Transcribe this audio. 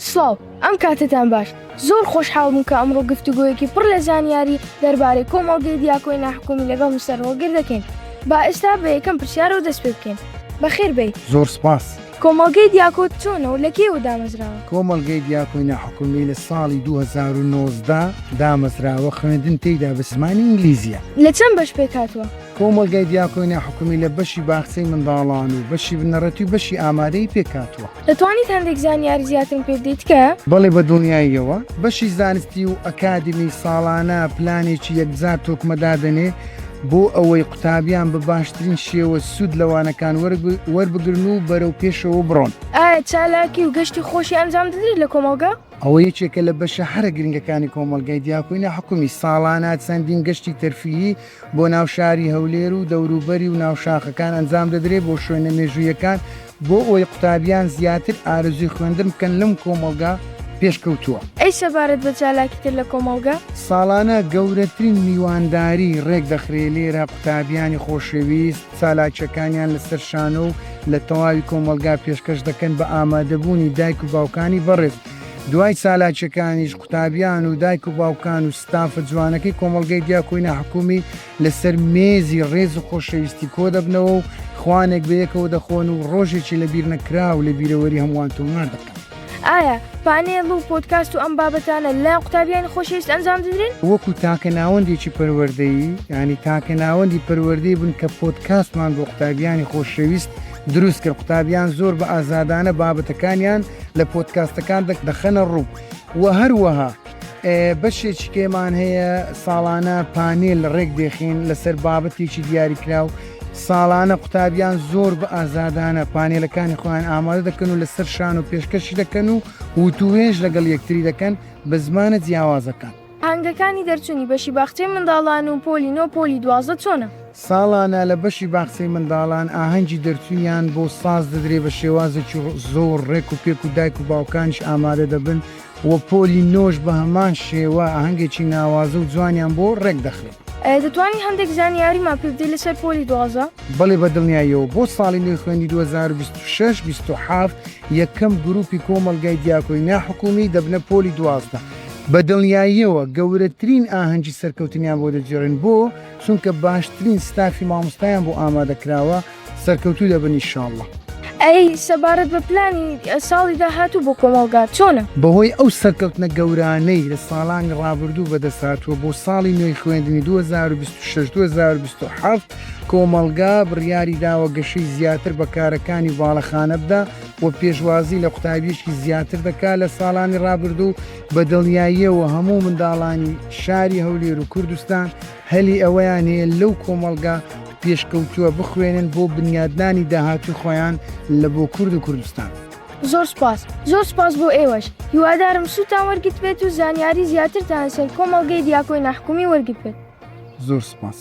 سڵاو، ئەم کاتەتان باش. زۆر خۆشحاڵ بووم کە ئەمڕۆ گفتوگۆیەکی پڕ لە زانیاری دەربارەی کۆمەڵگەی دیاکۆی ناحکومی لەگەڵ مستەر هۆڵگر دەکەین. با ئێستا بە یەکەم پرسیارەوە دەست پێ بکەین. بەخێر بێیت. زۆر سپاس. کۆمەڵگەی دیاکۆ چۆنە و لە کێوە دامەزراوە؟ کۆمەڵگەی دیاکۆی ناحکومی لە ساڵی دوو هەزار و نۆزدە دامەزراوە، خوێندن تێیدا بە زمانی ئینگلیزییە. لە چەند بەش پێک هاتووە؟ کۆمەڵگای دیاکۆی ناحکومی لە بەشی باخچەی منداڵان و بەشی بنەڕەتی و بەشی ئامادەیی پێک هاتووە. دەتوانیت هەندێک زانیاری زیاترم پێ بدەیت تکایە؟ بەڵێ بە دڵنیاییەوە بەشی زانستی و ئەکادمی ساڵانە پلانێکی یەکجار تۆکمە دادەنێ بۆ ئەوەی قوتابیان بە باشترین شێوە سوود لە وانەکان وەربگرن و بەرەو پێشەوە بڕۆن. ئایا چالاکی و گەشتی خۆشی ئەنجام دەدریت لە کۆمەڵگا؟ ئەوە یەکێکە لە بەشە هەرە گرنگەکانی کۆمەڵگای دیاکۆی ناحکومی، ساڵانە چەندین گەشتی تەرفیهی، بۆ ناو شاری هەولێر و دەوروبەری و ناو شاخەکان ئەنجام دەدرێت بۆ شوێنە مێژوویەکان بۆ ئەوەی قوتابیان زیاتر ئارەزووی خوێندن بکەن لەم کۆمەڵگا پێشکەوتووە. ئەی سەبارەت بە چالاکی تر لە کۆمەڵگە؟ ساڵانە گەورەترین میوانداری ڕێکدەخرێت لێرە قوتابیانی خۆشەویست چالاکیەکانیان لەسەر شانۆ و لە تەواوی کۆمەڵگا پێشکەش دەکەن بە ئامادەبوونی دایک و باوکانی بەڕێز دوای چالاکیەکانیش قوتابیان و دایک و باوکان و ستافە جوانەکەی کۆمەڵگەی دیاکۆی ناحکومی لەسەر مێزی ڕێز و خۆشەویستی کۆدەبنەوە و خوانێک بەیەکەوە دەخۆن و ڕۆژێکی لەبیرنەکراو لە بیرەوەری هەمووان تۆمار دەکەن. ئایا پانێڵ و پۆدکاست و ئەم بابەتانە لە قوتابیانی خۆشەویست ئەنجام دەدرێن؟ وەکو تاکە ناوەندێکی پەروەردەیی، یانی تاکە ناوەندی پەروەردەی بوون کە پۆدکاستمان بۆ قوتابیانی خۆشەویست دروست کرد، قوتابیان زۆر بە ئازادانە بابەتەکانیان لە پۆدکاستەکان دەخەنە ڕوو و هەروەها. بەشێکی کێمان هەیە ساڵانە پانێل ڕێک دێخین لەسەر بابەتێکی دیاریکراو ساڵانە قوتابیان زۆر بە ئازادانە پانێلەکانی خۆیان ئامادە دەکەن و لەسەر شان و پێشکەشی دەکەن و وتوێژ لەگەڵ یەکتری دەکەن بە زمانە جیاوازەکان هەنگەکانی دەرچوونی بەشی باخچەی منداڵان و پۆلی نۆ پۆلی دوازە چۆنە؟ ساڵانە لە بەشی باخچەی منداڵان ئاهەنگی دەرچوویان بۆ ساز دەدرێ بە شێوازێکی زۆر ڕێک و پێک و دایک و باوکانش ئامادە دەبن و پۆلی نۆش بە هەمان شێوە ئاهەنگێکی ناوازە و جوانیان بۆ ڕێک دەخرێت. دەتوانی هەندێک زانیاریمان پێ بدەی لەسەر پۆلی دوازدە؟ بەڵێ بە دڵنیاییەوە بۆ ساڵی نوێی خوێندی دوو هەزار و بیست و شەش بیست و حەفت یەکەم گروپی کۆمەڵگای دیاکۆی ناحکومی دەبنە پۆلی دوازدە بە دڵنیاییەوە گەورەترین ئاهەنگی سەرکەوتنیان بۆ دەگێڕین بۆ چونکە باشترین ستافی مامۆستایان بۆ ئامادە کراوە سەرکەوتوو دەبن ئیشاڵڵە. ئەی سەبارەت بە پلانی ساڵی داهاتوو بۆ کۆمەڵگا چۆنە؟ بەهۆی ئەو سەرکەوتنە گەورانەی لە ساڵانی ڕابردوو بەدەستهاتووە بۆ ساڵی نوێی خوێندنی دوو هەزار و بیست و شەش دوو هەزار و بیست و حەڤت کۆمەڵگا بڕیاری داوە گەشەی زیاتر بە کارەکانی باڵەخانە بدا و پێشوازی لە قوتابییەکی زیاتر دەکات لە ساڵانی ڕابردوو بە دڵنیاییەوە هەموو منداڵانی شاری هەولێر و کوردستان هەلی ئەوەیان هەیە لەو کۆمەڵگا پێشکەوتووە بخوێنن بۆ بنیادنانی داهاتووی خۆیان لە بۆ کورد و کوردستان. زۆر سوپاس زۆر سوپاس بۆ ئێوەش هیوادارم سوتان وەرگتبێت و زانیاری زیاترتان لەسەر کۆمەڵگەی دیاکۆی ناحکومی وەرگتبێت. زۆر سوپاس.